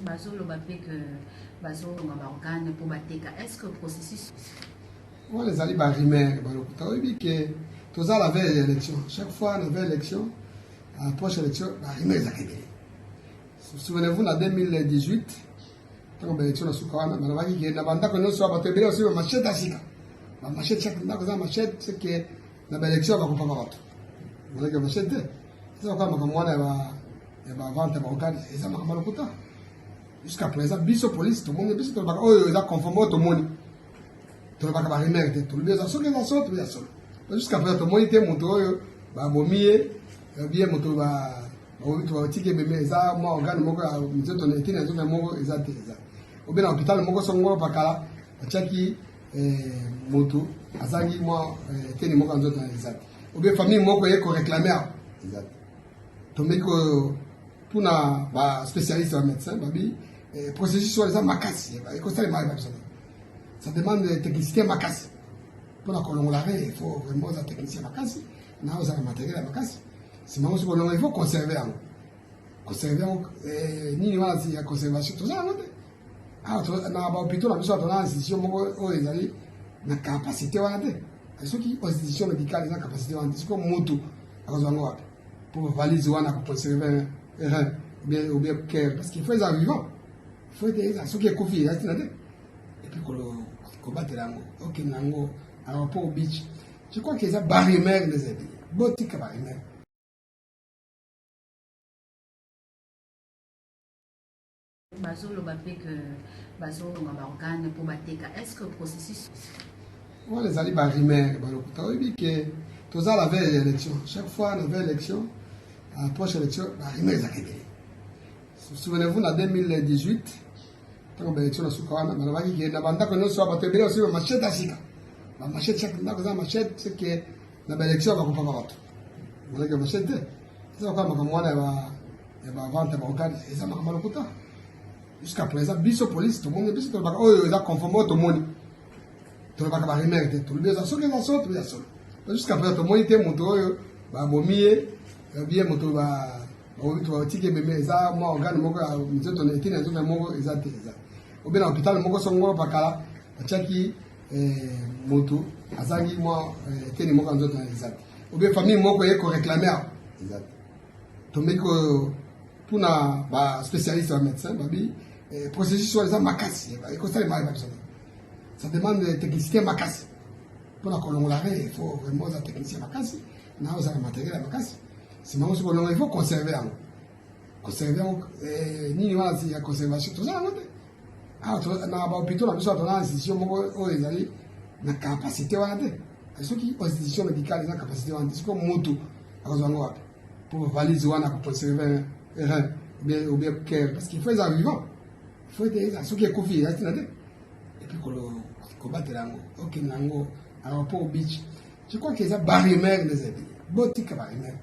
bazoloba mpe ke bazolonga baorgane mpo bateka est ce que processus wana ezali barumeur balokuta oyebi ke toza la veille ya élection chaque fois na veille élection approche élection barumeur ezaka ebele souvenez-vous na 2018 ntango baélection na suka wana balobaki ke na bandako nyonso ya bato ebele osi bamachete ya sika bamachete chaque ndako eza machete seke na baélection bakopaka bato oleke machete te eza lokola makambo wana ya ya ba vente ya ba organe eza makambo ya lokuta jusqu'à présent biso police tomoni biso tolobaka oyo oh, eza conforme oyo tomoni tolobaka ba rumeur te tolobi eza soki eza solo tobi ya solo jusqu'à présent tomoni te moto oyo babomi ye obi ye moto babomi to batiki ebembe eza mwa organe moko ya nzoto na etini ya nzoto moko eza te eza obi na hôpital moko songolo pakala batiaki eh, moto azangi mwa eh, eteni moko ya nzoto eza te obi famille moko ye koreclame awa eza te tomeki kotuna ba spécialiste ba médecin babi eh, processus wana eza makasi ekosalema ye babisana ça demande technicité makasi mpona kolongola re il faut vraiment oza technicien makasi na ozala matériel ya makasi nsima yango soki olongola il faut conserver yango conserver yango eh, nini wana ya conservation toza yango te Ah, na ba hôpitaux na biso ato na institution moko oyo ezali na capacité wana te soki institution médicale eza capacité wana te soki mutu akozwa yango wapi po valise wana akoconserve rein bien ou bien cœur parce qu'il faut eza vivant faut ete eza soki ekufi eza ntina te epuis kobatela yango okende yango aéroport beach je crois que eza barimere nde ezali botika barimere Bazo loba pe que bazo longa ba organes pour bateka. Est-ce que processus wana ezali ba rumeur ba lokuta oyebi ke toza la veille ya élection chaque fois na veille élection approche élection ba rumeur ezalaka ebele souvenez-vous na 2018 ntango ba élection na suka wana balobaki ke na bandako nyonso ya bato ebele basuki ba machete ya sika ba machete chaque ndako eza machete seke na ba election ba kopama bato malaki ya machete eza kaka makambo wana ya ba vente ya ba organe eza makambo lokuta jusqu'à présent biso police tomoni biso tolobaka oyo eza conforme oyo tomoni tolobaka ba rumeur te tolobi eza soki eza solo toya solo jusqu'à présent tomoni te moto oyo babomi ye biye moto ba batiki ebembe eza mwa organe moko ya nzoto etini ya nzoto moko eza te eza obena hôpital moko songolo pakala atiaki eh, moto azangi mwa eh, teni moko ya nzoto na eza te obe famille moko eye koreklame awa eza te tomeki kotuna baspécialiste ya médecin babi eh, processus wana eza makasi ekosalema yeba biso ça demande technicité makasi mpona kolongola re il faut vraiment oza technicien makasi na ozala matériel ya makasi nsima yango soki olongola il faut conserver yango conserver yango nini wana ya conservation toza yango te Ah, na bahopitaux na biso ato na institution moko oyo ezali na capacité wana te soki institution médicale eza capacité wana te soki motu akozwa yango wapi mpo bavalise wana koconserve rein obien cœur parce qu'il faut eza vivant faut ete eza soki ekufi eza ntina te epuis kobatela yango okende yango aéroport beach je crois que eza barumeur les amis botika barumeur